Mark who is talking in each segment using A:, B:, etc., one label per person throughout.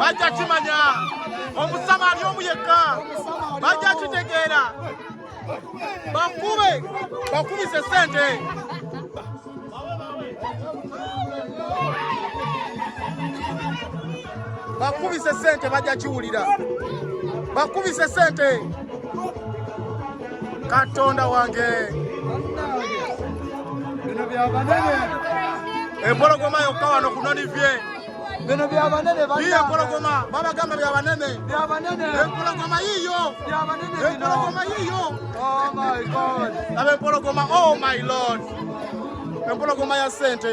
A: bajja kimanya omusama ali omu yekka bajja kitegeera bakube bakubise sente bakubise sente bajja kiwulira bakubise sente katonda wange empologoma yokka wano kunonivye bino byabanene banange empologoma babagamba byabanene byabanene empologoma yiyo byabanene empologoma yiyo oh my god abe empologoma oh my lord empologoma ya sente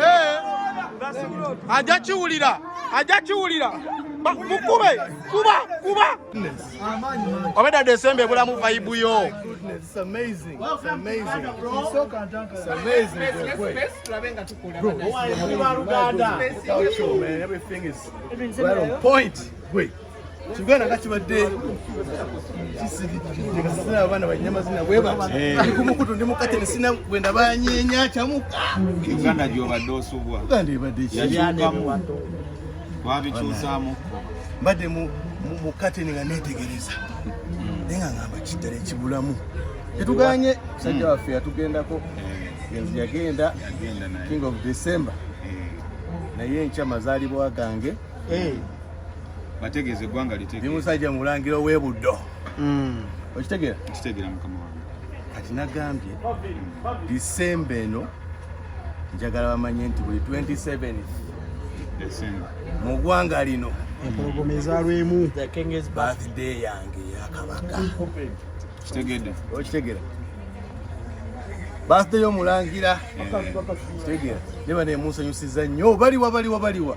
A: Eh, ajja kiwulira ajja kiwulira mukube kuba kuba obedda desemba ebulamu vayibu yo
B: Point. Wait. kigana nga kibadde kisirikirire kasasina abaana balina mazina bwe bati eh. kumukutu ndi mukate nesina bwe ndabanyenya kyamuka uganda gyobadde
C: osubwa uganda ebadde
B: kiyalyamu
C: twabikyusamu mbadde
B: mukate nga netegereza hmm. naye nga ngamba kiddala ekibulamu tetuganye musajja hmm. waffe yatugendako eh. yagenda king of december eh. naye enkya mazaalibwa gange mm. eh. bategeeze
C: eggwanga litegemusajja mulangira
B: owebuddo hmm. okitegeera okitegeera mukama
C: wange kati nagambye
B: disemba eno njagala bamanye nti buli 27
C: mu ggwanga
B: lino empologoma ezalwemu
A: birthday
B: yange yakabaka
C: kitegedde okitegera
B: birthday yomulangira kitegera neba nemunsanyusiza nnyo baliwa baliwa baliwa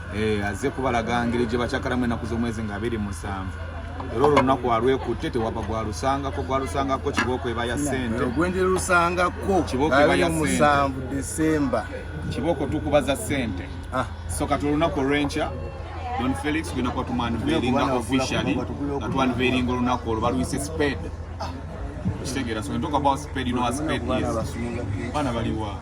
C: eh, azze kubalaga ngeri gye bakyakalamu ennaku z'omwezi nga abiri musanvu era olwo lunaku alwekutte tewaba gwalusangako gwalusangako kibooko eba ya sente ogwendera lusangako
B: kibooko eba ya
C: musanvu desemba
B: kibooko
C: tukubaza sente ah. so kati olunaku olwenkya don felix genda kuba tumwanveeringa officially nga twanveeringa olunaku olwo balwise spade ah. okitegeera so we talk about spade you know what spade is baana baliwa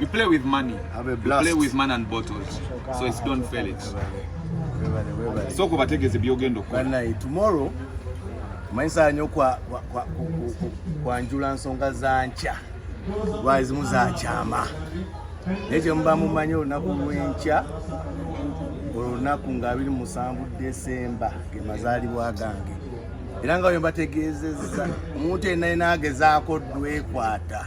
C: You play with money. Have a blast. You play with
B: man
C: and
B: bottles.
C: So it's don't fail it. So ko bategeze byogenda okukola. Bana tomorrow
B: manyisa nyo kwa kwa kwa, kwa njula nsonga za ncha. Wise muza chama. Neje mba mumanyo olunaku lwenkya olunaku nga abiri musanvu Desemba ge mazaalibwa gange era nga bwe mbategeezezza omuntu yenna yena agezaako ddwekwata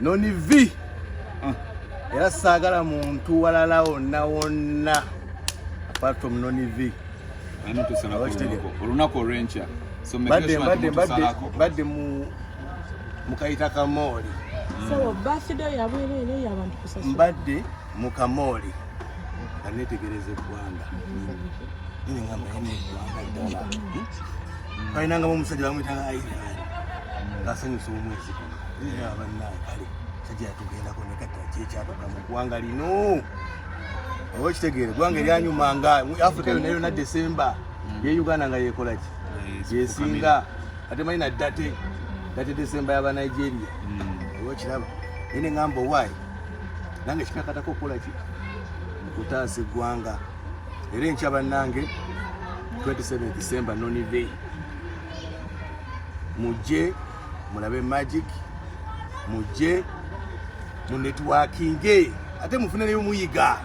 B: noni vi ah. era saagala muntu walala wonna wonna apart from noni vi
C: olunaku olwenkya
B: badde mukayita kamooli mbadde mu kamooli anetegereza eggwanga mm. balinangamu omusajja bamuyitanga airani ngasanyusa omwezi guno abannaye kale sajja yatugendako nekata kyekyatuka mu ggwanga lino oba okitegeere eggwanga eryanyuma nga africa yona yona desemba mm. ye uganda nga yekolaki yesinga ate manyi na date date desemba yaba nigeria mm. oba okiraba naye ne ngamba owaayi nange kikakatako okukolaki okutaasa eggwanga era enkya bannange 27 december nonivey mujje mulabe magic mujje mu networkinge ate mufune neyo muyiga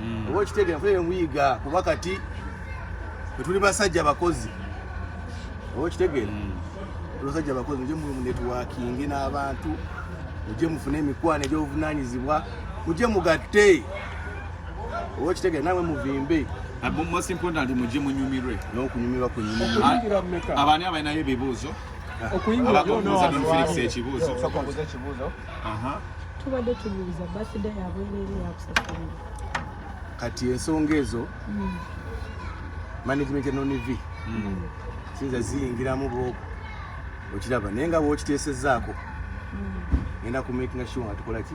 B: mm. oba okitegera mufune neyo muyiga kuba kati etuli basajja abakozi oba okitegera mm. basajja abakozi mujje mu networkinge n'abantu mujje mufune emikwano egy'obuvunanyizibwa mujje mugatte okitegere nawe muvimbe most important
C: mujje munyumirwe n'okunyumirwa
B: kunyumirwaabani
C: abalinayo ebibuuzo abakubuuza don felix ekibuuzo
D: tubadde tubuuza basida yabwerere yakusasulira kati
B: ensonga ezo hmm. management nonv hmm. sinza ziyingiramu bwoku okiraba naye nga bwokiteesezaako hmm. ngenda kumakinga sure nga tukolaki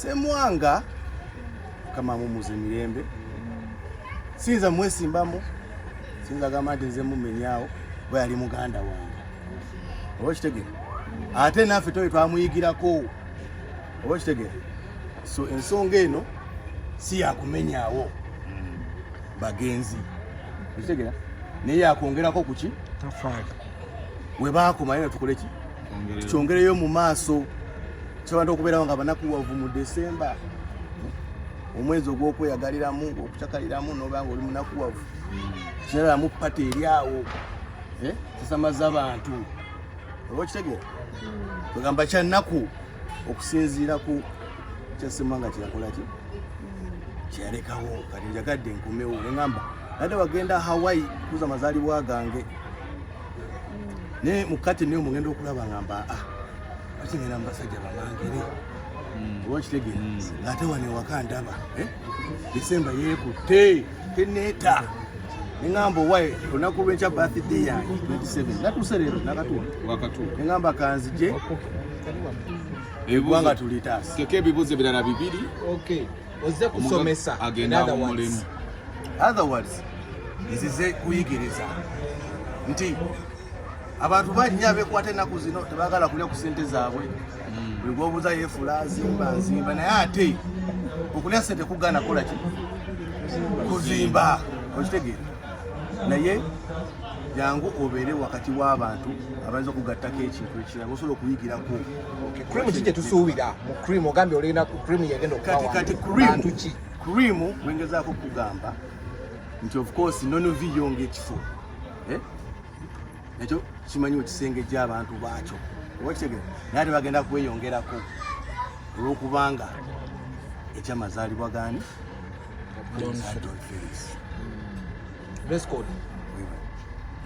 B: semwanga kama mumuze mirembe sinza mwesimbamu sinza gamba nti nze mumenyawo bwe yali muganda wange oba okitegere ate naffe tobe twamuyigirako oba okitegere so ensonga eno si yakumenyawo hmm. bagenzi okitegera naye yakwongerako kuki tafaali we baakoma yena tukoleki tukyongereyo mu maaso tusobadde okubeerawo nga banakuwavu mu desemba omwezi ogw'okweyagaliramu okucakaliramu noba nga oli munakuwavu kiralamu pata eri awo eh, tusamaza abantu oba okitegera kwegamba kyannaku okusinziira ku kyasimba nga kyeyakolaki kyeyalekawo kati njagadde nkomewo engamba nadde wagenda hawaii kuza mazaalibwa gange ne mukati ne omugenda okulaba ngamba ah kati ngenda mbasajja bamangere mm. oba kitegere mm. ng'ate wano ewaka ndaba eh? disemba yeekutte teneeta neŋamba owaye olunaku lwenkya birthday yange 27 natuuse leero nakatuwa neŋamba kanzije egwanga tulitaasa teka ebibuuzo ebirala
C: bibiri ozze
E: kusomesa agenda mu mulimu
B: otherwise nzize kuyigiriza nti abantu bannya bekwata ennaku zino tebagala kulya ku sente zaabwe hmm. buli gwobuuza yeefula zimba nzimba naye ate okulya sente kugaana kola ki kuzimba okitegeera naye jangu obeere wakati w'abantu abayinza okugattako ekintu ekirala osobola okuyigirako cream ki
E: kyetusuubira mu cream ogambye olina cream yegenda okukati cream ki
B: cream wengezaako okugamba nti of course nonovi yonga ekifo eh? ekyo kimanyi ekisenge gy'abantu baakyo obakitegere naye ate bagenda kweyongerako olwokubanga ekyamazaalibwa gani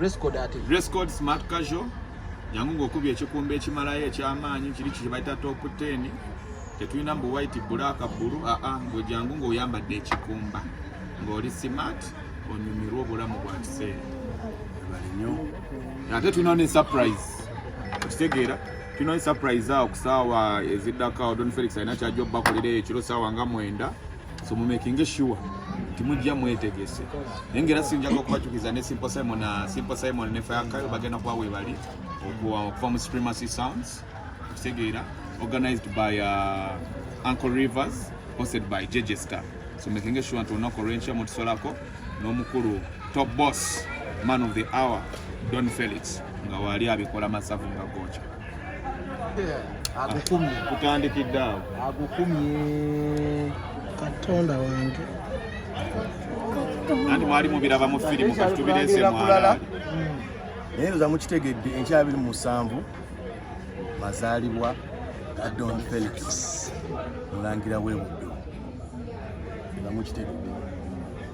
E: Rescode smart
C: casual jangu ng'okubya ekikumba ekimalayo eky'amaanyi kiri kibayita top 10 tetulina mbu white bulaaka bbulu aa ah, ah, ng'ojangu ng'oyambadde ekikumba ng'oli smart onyumirwa obulamu bwa kiseera ate tulina ne surprise okitegeera tulina ne surprise awo ku saawa eziddako don felix alina kyajja obubakolera ekiro saawa nga mwenda so mumekinge sure timujja mwetegese naye ngaera sinjaga okubacukiza ne simple simon na simple simon ne fayakayo bagenda kuba webali okuva mu supremacy sounds okutegeera organized by uh, uncle rivers hosted by jj star so making sure nti olunaku olwenkya mutusolako n'omukulu top boss man of the hour don felix nga waali abikola masavu nga gookya agukumye
E: kutandikidde awo
C: agukumye
E: katonda wange
C: anti mwali mubiraba mu firimu kati tubireese mwala
B: naye nza mukitegedde enkya abiri musanvu mazaalibwa ga don felix mulangira webuddo nga mukitegedde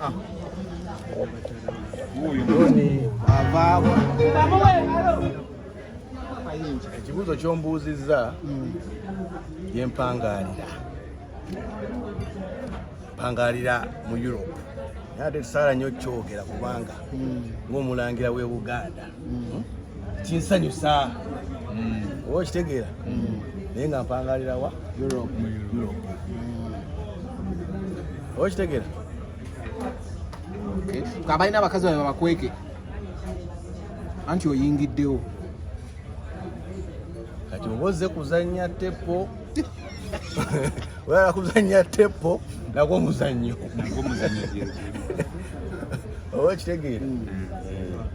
E: Ah.
B: ekibuuzo kyombuuzizza yempangalira mpangalira mu europe naye ate tusaala nyo kyogera kubanga hmm. ng'omulangira w'e buganda mm. kinsanyusa mm. oba okitegeera mm. naye nga mpangalirawa oba okitegeera
E: abalina abakazi babe babakweke anti oyingiddewo
B: kati oba ozze kuzannya tepo wala kuzannya tepo nagwo omuzannyo oba okitegeera mm.